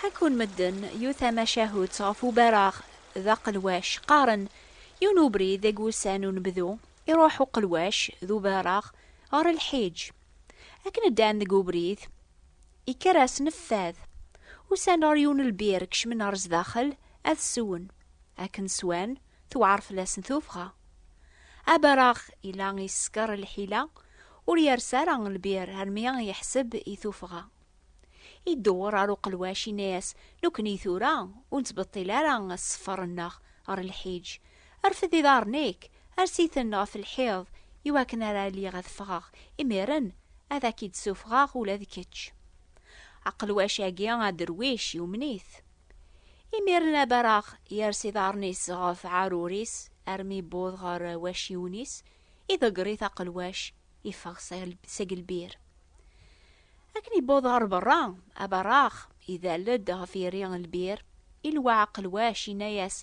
Ḥekkun medden yiwet tamacahut ɣef ubaraɣ d aqelwac. Qqaren, yiwen ubrid deg wussan n unebdu, iruḥ uqelwac d ubaraɣ ɣer lḥiǧ. Akken ddan deg ubrid, ikker asnef fad. Usan ɣer yiwen lbir, kecmen ɣer sdaxel ad swen. Akken swan, tewɛer fell-asen tuffɣa. Abaraɣ yella yeskeṛ lḥila, ur yers ara lbir armi yeḥseb i tuffɣa. Idewwer ɣer uqelwac, yenna-as, Nekkni tura ur nettbeṭṭil ara sseffer-nneɣ ɣer lḥiǧ. Rfed iḍarren-ik, ers-iten ɣef lḥiḍ, iwakken ara lliɣ ad ffɣeɣ, imiren ad ak-id-ssufɣeɣ ula d kečč. Aqelwac-agi aderwic yumen-it. Imiren abareɣ yers iḍarren-is ɣef ɛarur-is armi yewweḍ ɣer wacciwen-is, iḍegger-it aqelwac, iffeɣ seg lbir. Akken yewweḍ ɣer berra, aberraɣ idal-d ɣef yiri n lbir, ilwa aqelwac, yenna-yas,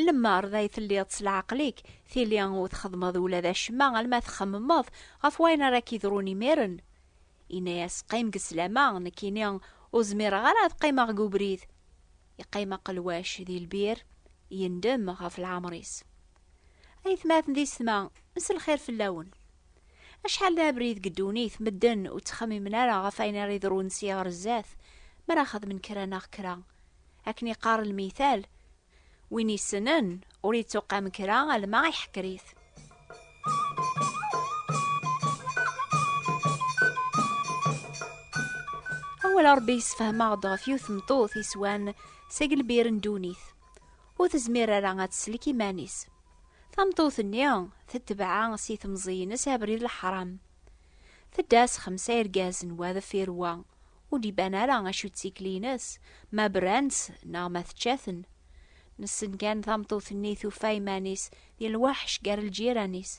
Lemmer d ay telliḍ s leɛqel-ik, tili ur txeddmeḍ ula d acemma alma txemmemeḍ ɣef wayen ara k-yeḍrun imir-n. Yenna-yas, Qqim deg sslam-a, nekkini ur zmireɣ ara ad qqimeɣ deg ubrid. Yeqqim aqelwac di lbir, yendem ɣef leɛmer-is. Aytmaten di setma, s lxir fell-awen. Acḥal d abrid deg ddunit, medden ur ttxemmimen ara ɣef ayen ara yeḍrun si ɣer zdat, mi ara xedmen kra neɣ kra. Akken yeqqar lmital, win yessnen ur yettuqam kra alma iḥekker-it. Awal Rebbi yessefhem-aɣ-d ɣef yiwet tmeṭṭut yeswan seg lbir n ddunit. Ur tezmir ara ad teslek iman-is. Tameṭṭut-nni tetbeɛ si temẓi-ines abrid leḥram. Tedda s xemsa irgazen wa deffir wa, ur d-iban ara acu d tikli-ines, ma bran-tt neɣ ma tečča-ten. Nessen kan tameṭṭut-nni tufa iman-is di lweḥc gar lǧiran-is.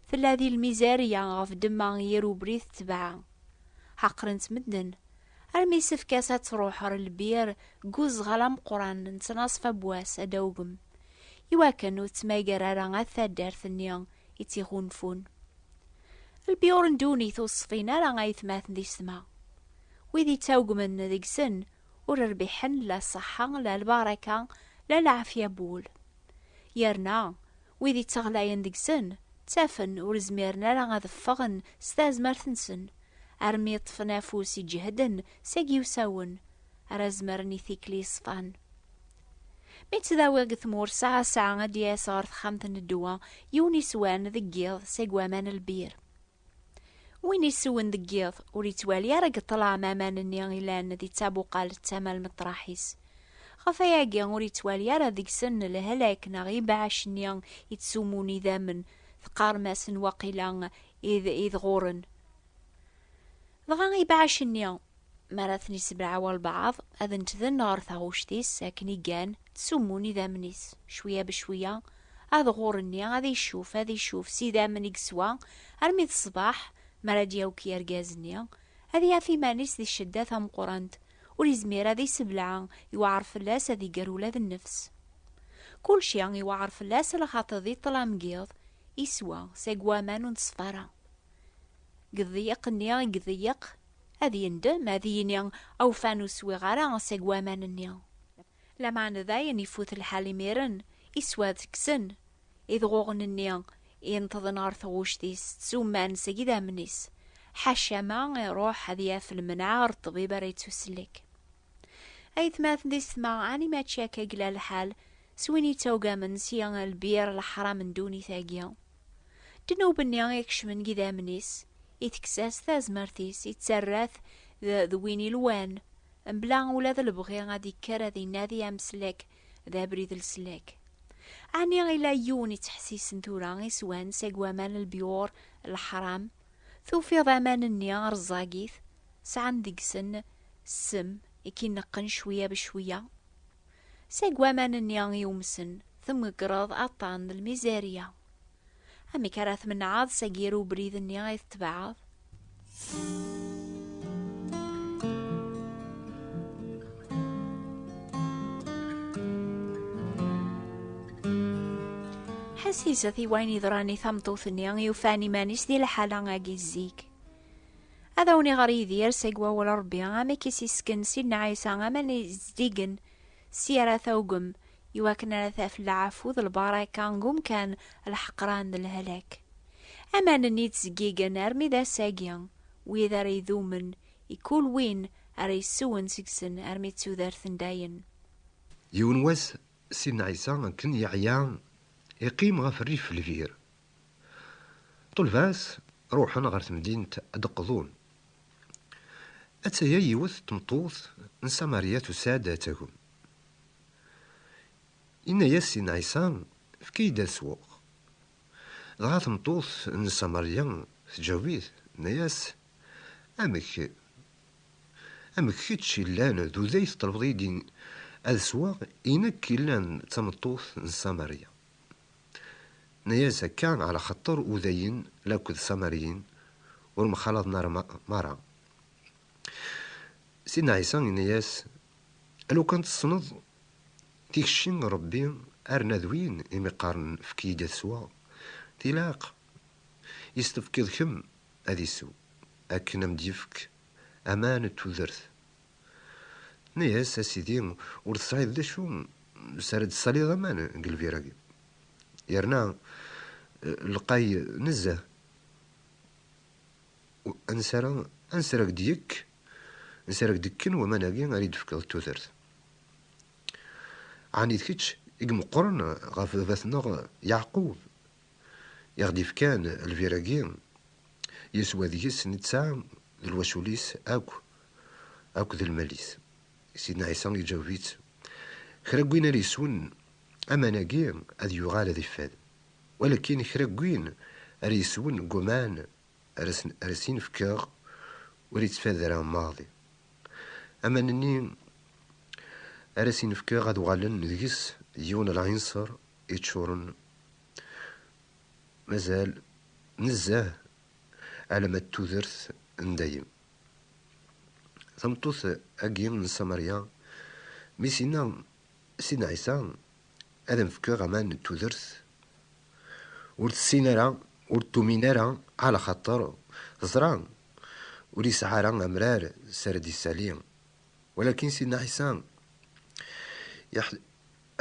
Tella di lmizerya ɣef ddemma n yir ubrid tetbeɛ. Ḥeqren-tt medden. Armi yessefk-as ad truḥ ɣer lbir deg uzɣal ameqqran n tnaṣfa n wass adawgem, iwakken ur tettmagar ara at taddart-nni i tt-iɣunfun. Lbiyur n ddunit ur ṣfin ara ayetmaten di ssma. Wid yettawgmen deg-sen ur rbiḥen la ṣṣeḥḥa, la lbaraka, la lɛafya n wul. Yerna, Wid ittaɣlayen deg-sen, ttafen ur zmiren ara ad ffɣen s tazmert-nsen, armi ṭṭfen afus i ǧehden seg yiwsawen ara zemren i tikli yeṣfan. Mi ttdawiɣ deg tmurt sɛa sɛa ad d-yas ɣer texxamt n ddwa yiwen iswan deg yiḍ seg waman lbir. Win iswen deg yiḍ ur yettwali ara deg ṭṭlam aman-nni ilan di ttabuqalt tama lmeṭraḥ-is. Ɣef ayagi ur yettwali ara deg-sen lehlak neɣ ibeɛɛac-nni ittsumun idammen, teqqarem-asen waqila id, idɣuren. Dɣa ibeɛɛac-nni. mi ara ten-isebleɛ walbeɛḍ, ad ntden ɣer taɣuct-is akken i gan, ttsummun idammen-is, cwiya becwiya, ad ɣur-nni, ad icuf, ad icuf, s idammen i yeswa, armi d ṣṣbeḥ, mi ara d-yawki argaz-nni, ad yaf iman-is di ccedda tameqqrant, ur izmir ad isebleɛ, iweɛr fell-as ad iger ula d nnefs. Kulci iweɛr fell-as lxaṭi di ṭṭlam n yiḍ, iswa, seg waman ur neṣfa ara. Deg ḍḍyeq-nni i iḍeyyeq, Ad yendem, ad yini, Awfan ur swiɣ ara seg waman-nni. Lameɛna dayen ifut lḥal imiren, iswa ad kksen idɣuɣen-nni ineṭḍen ɣer tɣuct-is, ttzumman seg idammen-is. Ḥaca ma iruḥ ad yaf lemneɛ ɣer ṭṭbib ara yettusellek. Aytmaten di setma, ɛni mačči akka i yella lḥal s win yettawgamen si lbir leḥram n ddunit-agi? Ddnub-nni i ikecmen deg idammen-is, itekkes-as tazmert-is, ittarra-t d win ilwan, mebla ula d lebɣi ad ikker ad inadi ameslek d abrid leslak. Ɛni ila yiwen ittḥessisen tura i swan seg waman lbiur leḥram? Tufiḍ aman-nni rẓagit, sɛan deg-sen ssem i k-ineqqen cwiya becwiya? Seg waman-nni yumsen, tmegreḍ aṭṭan n lmizerya. Amek ara tmenɛeḍ seg yir ubrid-nni ay tetbeɛeḍ? Ḥasizet i wayen yeḍran i tameṭṭut-nni i ufan iman-is di lḥala-agi zik. Ad awen-iɣer Yidir seg wawal n Ṛebbi amek i s-isken Sidna Ɛisa aman izeddigen s yara tawgem i wakken ara taf lɛafu d lbaraka deg umkan leḥqran d lehlak. Aman-nni ttezgigen armi d ass-agi, wid ara idumen I kul win ara yesswen seg-sen armi d tudert n dayen. Yiwen wass, Sidna Ɛisa akken yeɛya, iqqim ɣef rrif lbir. Ṭṭulba-s ruḥen ɣer temdint ad d-qḍun. Atta-ya yiwet n tmeṭṭut n Samarya tusa-d ad tagem. Yenna-yas Sidna Ɛisa, Efk-iyi-d ad sweɣ. Dɣa tmeṭṭut n Samarya teǧaweb-it, tenna-yas, Amek? Amek kečč i llan d uday teṭṭlebeḍ-iyi-d ad sweɣ i nekk i llan d tameṭṭut n Samaria? Tenna-yas, Akka ɛla xaṭṭer udayen lakked Samariyen ur mxalaḍen ara mara. Sidna Ɛisa yenna-yas, Alukan tessneḍ tikci n Rebbi arna d win i mi qqaren efk-iyi-d ad sweɣ, tilaq i s-tefkiḍ kemm ad isew akken a m-d-yefk aman d tudert. Tenna-yas, A Sidi, ur tesɛiḍ d acu s ara d-tessaliḍ aman deg lbir-agi, yerna lqay nezzeh, ansi ara, ansi ara ak-d-yekk, ansi ara ak-d-kken waman-agi ara yi-d-tefkeḍ tudert? Ɛni d kečč i imeqqren ɣef baba-tneɣ Yeɛqub, i ɣ-d-ifkan lbir-agi, yeswa deg-s netta d lwacul-is akk, akk d lmal-is. Sidna Ɛisa iǧaweb-itt, Kra n win ara yeswen aman-agi ad yuɣal ad iffad, walakin kra n win ara yeswen deg waman ara asen-in-fkeɣ ur ittfad ara maḍi. Aman-nni ara asen-in-fkeɣ ad uɣalen deg-s d yiwen lɛinṣer yeččuren mazal nezzeh alama d tudert n dayem. Tameṭṭut agi n Samarya mi s-yenna Sidna Ɛisa ad am-fkeɣ aman n tudert ur tessin ara ur tumin ara ala xaṭer teẓra ur yesɛi ara amrar s ara d-yessali walakin Sidna Ɛisa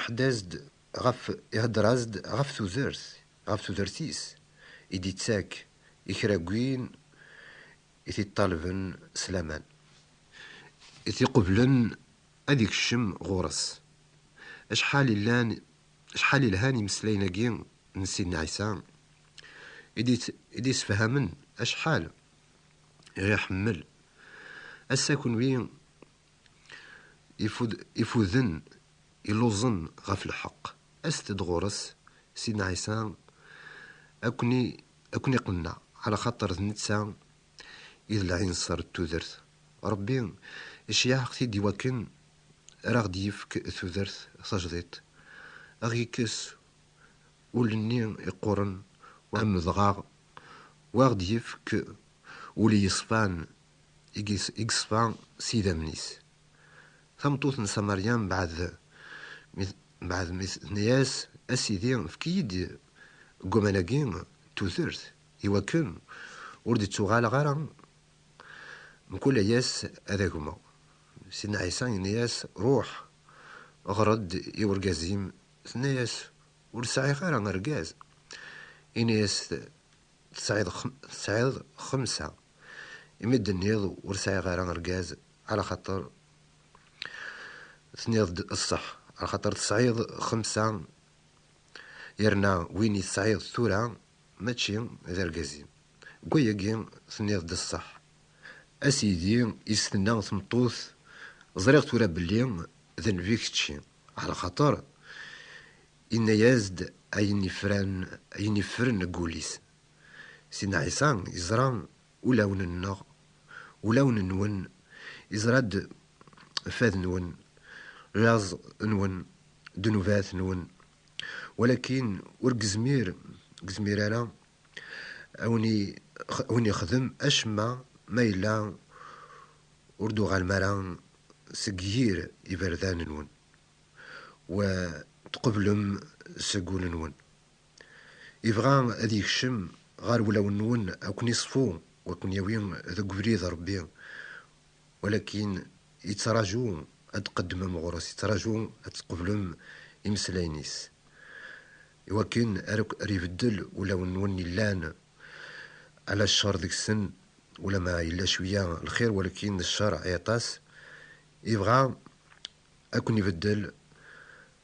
Ḥdaz-d ɣef, ihedder-as-d ɣef tudert, ɣef tudert-is i d-ittak i kra n win i t-iṭṭalben s laman, i t-iqublen ad ikcem ɣur-s. Acḥal illan, acḥal ilhan imeslayen-agi n Sidna Ɛisa, i d-isefhamen acḥal i ɣ-iḥemmel. Ass-a kunwi Ifuden illuẓen ɣef lḥeqq, aset-d ɣur-s, Sidna Ɛisa ad ken-iqenneɛ, ɛlaxaṭer d netta i d lɛinṣer n tudert. Ṛebbi iceyyeɛ-aɣ-t-id iwakken ar aɣ-d-yefk tudert tajdiṭ, ad ɣ-yekkes ul-nni iqquren, wamedɣaɣ, u ad ɣ-d-yefk ul yeṣfan, i yeṣfa s yidammen-is. Tameṭṭut n Samarya mbeɛd mi tenna-yas, A Sidi, efk-iyi-d deg waman-agi n tudert, i wakken ur d-ttuɣaleɣ ara, mkul ay-ass ad agmeɣ. Sidna Ɛisa yenna-yas, Ruḥ, ɣer-d i urgaz-im. Tenna-yas, Ur sɛiɣ ara argaz. Yenna-yas, Tesɛiḍ xemsa. imi d-tenniḍ ur sɛiɣ ara argaz ɛla xaṭer tenniḍ-d ṣṣeḥ, ɛla xaṭer tesɛiḍ xemsa yerna win i tesɛiḍ tura mačči d argaz-im, deg wayagi tenniḍ-d ṣṣeḥ. A sidi, i s-tenna tmeṭṭut, ẓriɣ tura belli d nnbi kečči, ɛla xaṭer yenna-yas-d ayen yefran, ayen yeffren deg wul-is, Sidna Ɛisa yeẓra ulawen-nneɣ, ulawen-nwen, yeẓra-d fad-nwen, laẓ-nwen, ddnubat-nwen, walakin ur gezmir gezmir ara awen-yexdem acemma ma yella ur d-uɣalem ara seg yir iberdan-nwen, wa tqeblem seg ul-nwen. Ibɣa ad yekcem ɣer wulawen-nwen a ken-iṣfu u a ken-yawi deg ubrid Rebbi, walakin yettraju ad d-tqeddmem ɣur-s, yettraju ad tqeblem imeslayen-is, iwakken ar akk ar ibeddel ulawen-nwen yellan ala ccer deg-sen, ulama yella cwiya lxir walakin ccer i aṭas, ibɣa a ken-ibeddel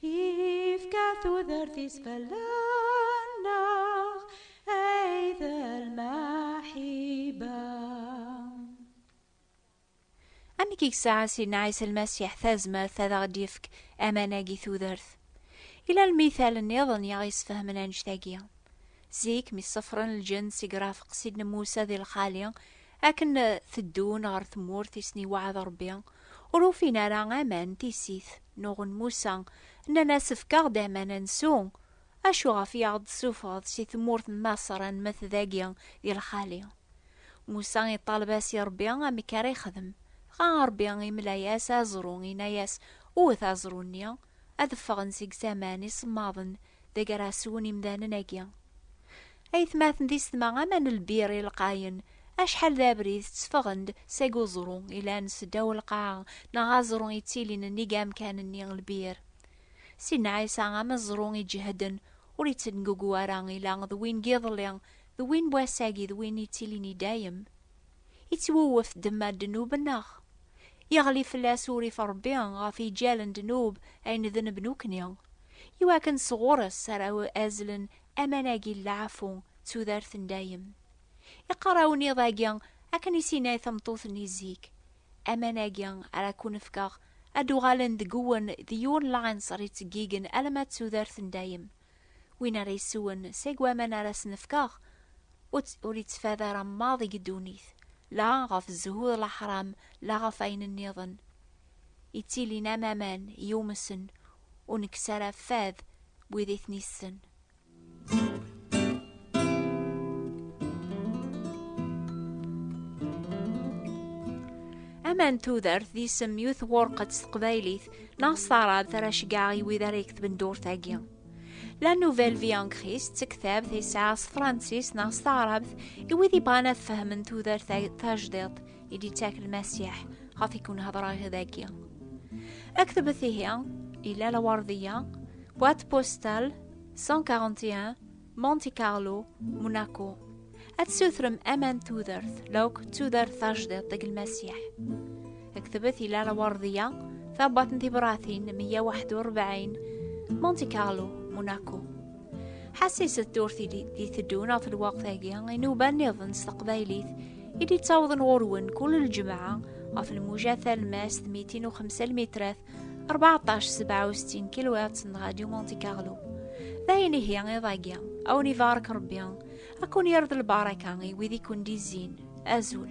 Ifka tudert-is fell-aneɣ ay d lmaḥiba. Amek i yesɛa Sidna Ɛisa Lmasiḥ tazmert ad aɣ-d-yefk amanag i tudert? Yella lmital nniḍen i aɣ-yesfehmen annect-agi. Zik, mi ṣefren lǧenn seg Rafeq Sidna Musa di lxali, akken teddun ɣer tmurt i sen-iweɛɛed Ṛebbi, ur ufin ara aman, tissit. Nuɣen Musa, nnan-as, Efk-aɣ-d aman ad nsew. Acu ɣef i aɣ-d-tessufɣeḍ si tmurt n Maṣer ad nmet dagi di lxali? Musa iṭaleb-as i Ṛebbi amek ara yexdem. Dɣa Ṛebbi imla-yas aẓru, inna-yas, Wwet aẓru-nni, ad ffɣen seg-s aman isemmaḍen Deg ara swen imdanen agi. Aytmaten d isetma ama n lbir i lqayen, acḥal d abrid tteffɣen-d seg uẓru ilan seddaw lqaɛa neɣ aẓru ittilin nnig amkan-nni lbir. Sidna Ɛisa ameẓru iǧehden, ur ittengugu ara ila d win n yiḍelli, d win n wass-agi d win ittilin i dayem. Ittwewwet ddemma n ddnub-nneɣ. Iɣli fell-as urrif n Ṛebbi ɣef yiǧal n ddnub ay nedneb nekkni, iwakken sɣur-s ara azzlen aman-agi n leɛfu d tudert n dayem. Iqqar awennid-agi akken i s-yenna i tmeṭṭut-nni zik, Aman-agi ara ken-fkeɣ ad d-uɣalen deg-wen d yiwen n lɛinṣer yettggigen alamma d tudert n dayem. Win ara yeswen seg waman ara sen-fkeɣ, ur yettfad ara maḍ deg ddunit, la ɣef zzhu d leḥram, la ɣef ayen nniḍen. Yettilin am aman yumsen, ur nekkes ara fad wid i ten-issen. Aman tudert d isem yut ɣurqet s teqbaylit neɣ s taɛrabt ara ceggeɣ i wid ara yektben durt-agi. La Nouvelle Vie en Christ d tektabt ay sɛiɣ s tefṛensist neɣ s taɛrabt i wid yebɣan ad fehmen tudert tajdiṭ i d-yettak Lmasiḥ ɣef i kun-hedṛeɣ dagi. Aktbet ihi, ila laweṛdiya, boîte postale 141 Monte Carlo, Monaco. Ad sutrem aman tudert, lawk tudert tajdiḍt deg lmasiḥ. Ktebet ila lawardiya, tabat n tibratin 141, Monte Carlo, Monaco. Ḥassiset turtili di teddun ɣef lwaqt-agi inuba niḍen s teqbaylit i d-ittawḍen ɣur-wen kul lǧemɛa ɣef lmuja talmast 205 lmitrat 14 67 kilowatts n Radio Monte Carlo d ayen ihi iḍ-agi awen ibarek Rebbi ad kun yerḍ lbaraka i wid i kun d-izzin azul